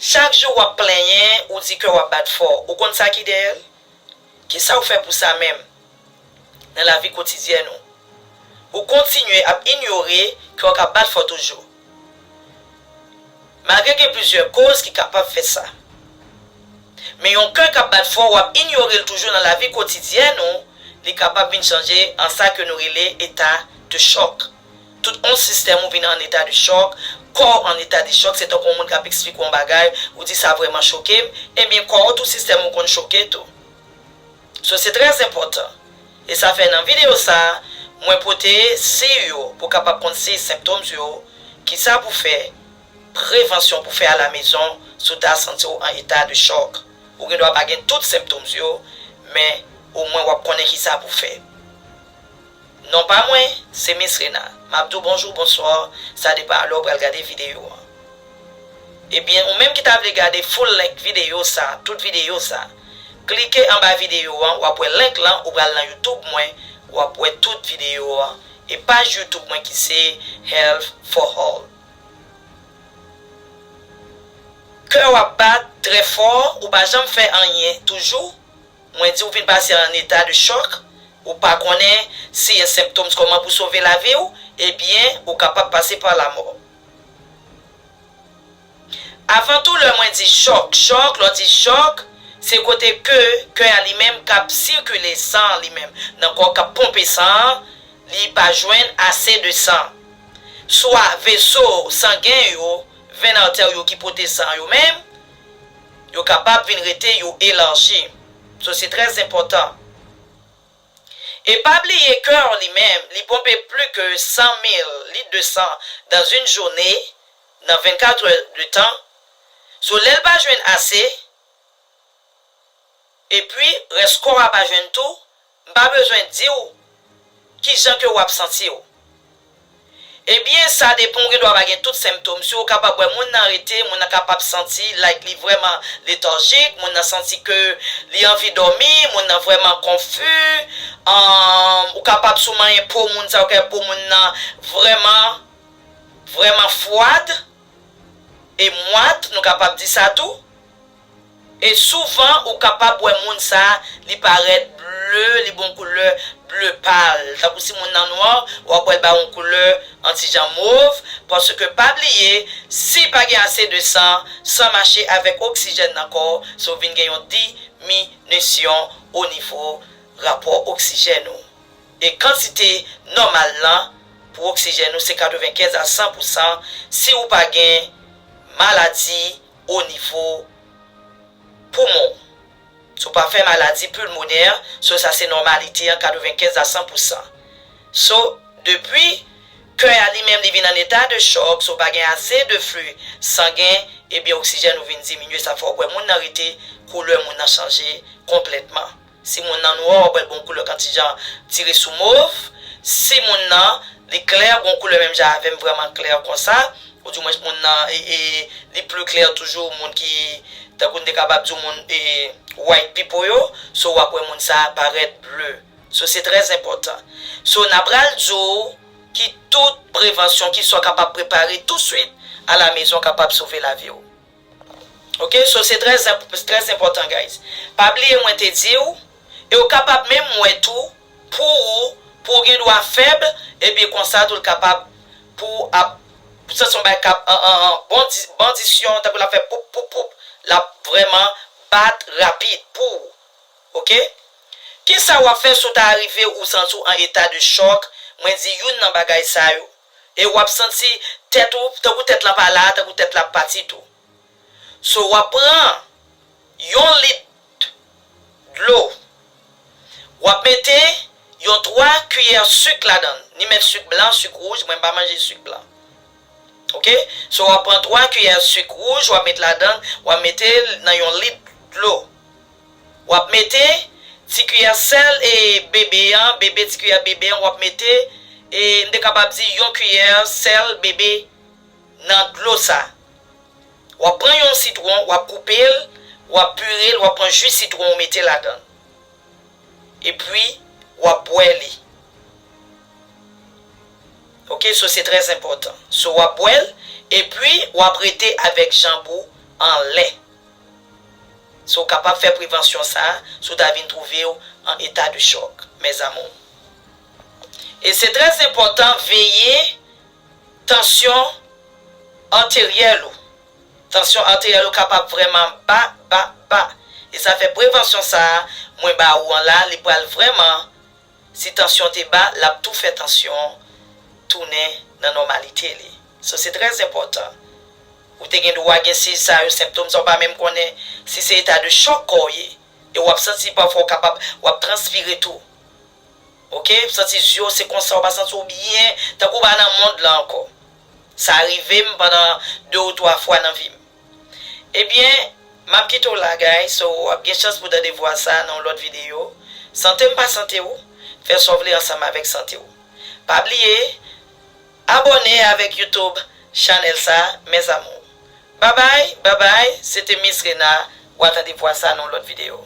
Chak jou wap plenyen, ou di kèw ap bat fò, ou konn sa ki dèyèl? Kisaw fè pou sa menm? Nan lavi kotidyèn ou. Ou kontinye ap inyore kèw ka bat fò toujou. Malgre gen plizyè koz ki kapab fè sa. Men yon kè kap bat fò wap inyorel toujou nan lavi kotidyèn ou, li kapab vin chanje an sa ke nou rele eta de chòk. Tout on sistèm ou vin an eta de chòk, kò w an eta de chòk se tankou on moun k ap eksplike w on bagay, ou di sa vrèman choke m, ebyen kò w tout sistèm ou konn choke tou. So se trè enpòtan. E sa fè nan videyo sa a, mwen pote siy yo pou w kapab konn siy symptoms yo, kisa pou fè, prevansyon pou fè alamezon si w ta santi w an eta de chòk. Ou gen dwa pa gen tout symptoms yo, men omwen w ap konnen kisa pou fè. Non pa mwen se miss rena. Map diw bonjour bonsoir sa depan a lè ou pral gade video an ebyen ou menm ki ta vle gade full length video sa tout video sa klike anba video an wap wè link lan ou pral nan youtube mwen wap wè tout video an e paj youtube mwen ki se health for all kèw ap bat trè fò ou pa janm fè anyen toujou Mwen di ou vin pase an eta de chòk, ou pa konnen siy e senptoms kòman pou sove lavi ou, ebyen ou kapab pase pa lamò. Avan tou lè mwen di chòk, chòk, lè w di chòk, se kote ke kè a li menm k ap sikile san an li menm nan kò w k ap ponpe san an, li pa jwenn ase de san. Swa veso sangen yo, venn artère yo ki pote san yo menm, yo kapab vin rete yo elarji so se trè zenpòtan e pa bliye kè an li menm li ponpe pli ke 100 mil lit de san dan yn joune nan 24 è de tan so lèl pa jwenn ase epwi rès kò a pa jwenn tou M pa bezwen di w ki jan ke w ap santi w. Ebyen, sa depan ou gen dwa pa gen tout senptom. Si ou kapab wè moun nan rete, moun nan kapab santi like li vrèman lethargic, moun nan santi ke li anvi dòmi, moun nan vrèman konfu, ou kapab si w manyen po moun sa ou ka wè po moun nan vrèman vrèman fwad e mwat, nou kapab di sa tou. E souvan ou kapab wè moun sa li parèt ble, li ba w yon koulè ble pal. Tankou si moun nan nwa, w ap wè l ba w yon koulè yon ti jan mov. Paske pa bliye, si pa gen ase de san, san mache avèk oksijèn nan kò w, se w vin gen yon diminisyon onivo rapò oksijèn ou. E kantite nòmal lan pou oksijèn ou se 95 a 100 pousan si ou pa gen maladi. o nivo poumon w. Si w pa fè maladi pulmonè, so sa se nòmalite an 95 a 100 pousan. So, depi kè a li menm li vin an eta de chòk, si w pa gen ase de fli sangen, ebyen oksijèn ou vin diminye sa fè w wè moun nan rete, koulè moun nan chanje konplètman. Si moun nan nwè wap wèl gon koulè kan ti jan tire sou mov si moun nan li klè gon koulè menm jan avèm vrèman klè konsa ou di mwen moun nan li plu klè toujou moun ki tankou nou te kapab diw moun white pipo yo so wap wè moun sa parèt ble so se trè zenpòtan so nan pral diw ki tout prevansyon ki sa kapab prepare tou swit a la mezon kapab sove laviw. Ok so se trè trè enpòtan guys pa bliye mwen te diw e ou kapab menm wè tou pou ou pou ou gen dwa fèb ebyen konsa tou l kapab pou ou ap sa son bagay kap bondi bandisyon tankou lap fè poup poup poup lap vrèman bat rapid pou ou ok kisa wap fè si w ta rive ou santi w an eta de chòk mwen di youn nan bagay sa yo. E wap santi tèt ou, tankou tèt la pa la, tankou tèt la ap pati tou. So wap pran yon lit dlo, wap mete yon 3 kiyè suk ladan, ni mèt suk blan, suk wouj, mwen m pa manje suk blan. Ok, so wap pran 3 kiyè suk wouj wap met ladan, wap mete nan yon lit dlo. Wap mete Ti kiyè sèl e bebe an bebe ti kiyè bebe an wap mete e m te kapab di yon kiyè sèl bebe nan dlo sa wap pran yon sitwon wap koupel wap purel wap pran ju sitwon ou mete ladanl epwi wap bwè li ok so se trè enpòtan so wap bwèl epwi wap rete avèk janb ou anlè. Si w kapab fè prevansyon sa a, si w ta vin twouve w an eta de chòk, mes amours. E se trè enpòtan veye tansyon arteryèl ou. Tansyon arteryèl ou kapab vrèman ba, ba, ba. E sa fè prevansyon sa a mwen ba ou an la, li pral vrèman Si tansyon te ba lap tou fè tansyon tounen nan nòmalite li. So se trè enpòtan. Ou te gen dwa gen siy sa yo, senptom sa yo pa menm konnen si se eta de chòk kò w ye. E wap santi pafwa ou kapab wap transpire tou. Ok, ou santi zye w se konsa ou pa santi w byen, tankou ou pa nan mond lan ankò. Sa rive m pandan 2 ou 3 fwa nan vi m. Ebyen Map kite w la guys so wap gen chans pou tande vwa sa nan yon lòt video Sante m pa sante w Fè sa w vle ansanm avèk sante w Pa bliye Abòne avèk YouTube Channel sa mes amours Babay babay se te Miss Rena wa tande vwa sa nan yon lòt video.